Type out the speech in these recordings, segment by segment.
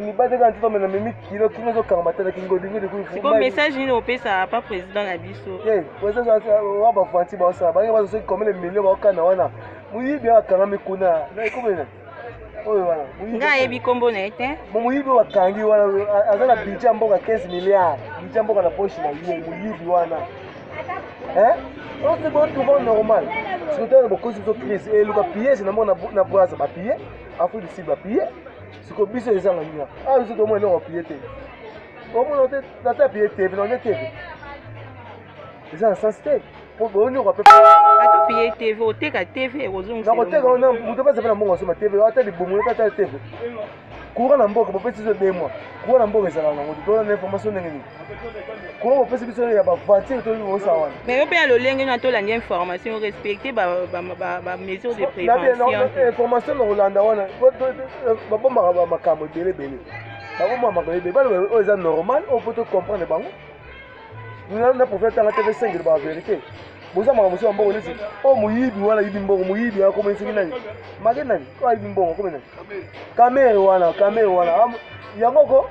mibate kaka nzoto mena memi kilo kino ezokangama te na kingodingodikuyiko message nini opesa pa président na biso eh, wa bavanti baosala bange bazo soki komele milio baokana wana moyibi oyo akangami kuna ekomena oyo wana nga ayebi nkombo na ye te moyibi oyo akangi wana aza na budget ya mboka 15 milliard budget ya mboka na poche na ye moyibi wana oyo botuba normal sikotana bokosi biso crise eluka pillage na mona na braza bapille afrique du sud bapille siko biso ezanga nini awa biso tomona eloko aplie te omona te nata aplie tv nande tv eza na sens te mpo boyonioka mpe atopie tv oteka tv ekozongisnakoteka wana moto mpeza mpe na mbongo asoma tv ata libongoli ata tv courant na mboka bopesi zo de mois courant na mboka ezalaka nango te tolanda information ndenge nini Comment opesi biso ya ba voiture to yo sa wana mais yo pe ya lolenge na tolanda information respecter ba ba ba, ba mesures de prévention na information na kolanda wana ba bomba ba makambo ebele bele ba bomba makambo ebele balo oyo eza normal on peut comprendre bango na na prophète tanga tv 5 ba vérité boza makambo mosusu ya mbongo neti oyo moyibi wana ayibi mbongo moyibi akomeli soki nani make nani oyo ayibi mbongo akomeli nani kamere wana kamere wana yango ko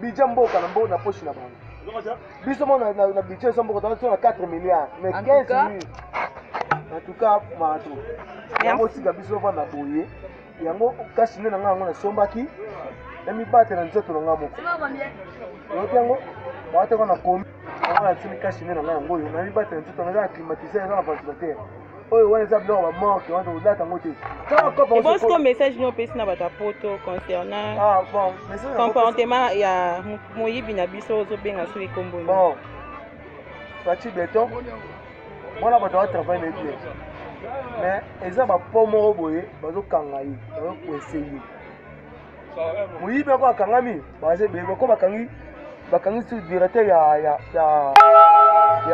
bidja mboka na mboka na poche na bango biso mo na bidja eza mboka toza na 4 milliard mais 15 mille en tout cas mato yango tika biso vanda boye yango kasi nde na ngai yango nasombaki namibatela nzoto na ngai moko oyoki yango baataka na komi yango natimi kasi nde na ngai yango oyo namibatela nzoto na ngai na climatise eza na ventilateur oyo wana eza biloko bamorke wana tokolata yango te ebonsi ko message nini opesi na bato ya poto concernant ah, comportement ya moyibi na biso ozobenga soki ekomboli faci beton mwana bato atravaille na bien mais eza bapo moko boye bazokanga ye bazokwese ye moyibi ako akangami bako bakangi bakangi directeur ya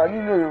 nini oyo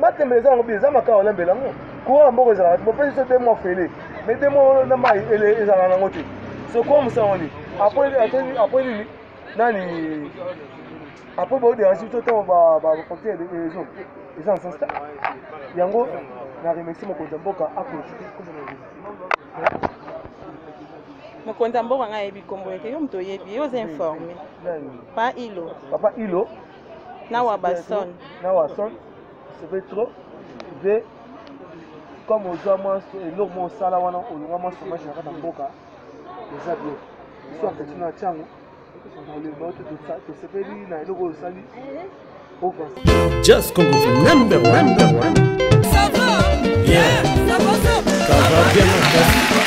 matembele eza yango bi eza makao olembela yango courant ya mboka ezalaka te bopesi biso te mwa fele me te mwa na mai ezalaka nango te sokoa mosango nini apres nini nani apres baoderange biso ntango bafacture ezo eza na sens te yango na remercie mokonzi ya mboka akonjuke mokonzi ya mboka ngai ayebi nkombo ete yo moto oyebi yo oza informe pa ilo papa ilo na wabason na wabason seve trop ve comme ozwa mwa eloko mwa osala wana olonga mwa somage na kati ya mboka eza bien biso apeti na ntiango olemba ote tosepeli na eloko oyo osali Just Congo for number one. Number one. Ça va? Yeah. Ça va, ça va. Ça va bien, mon frère.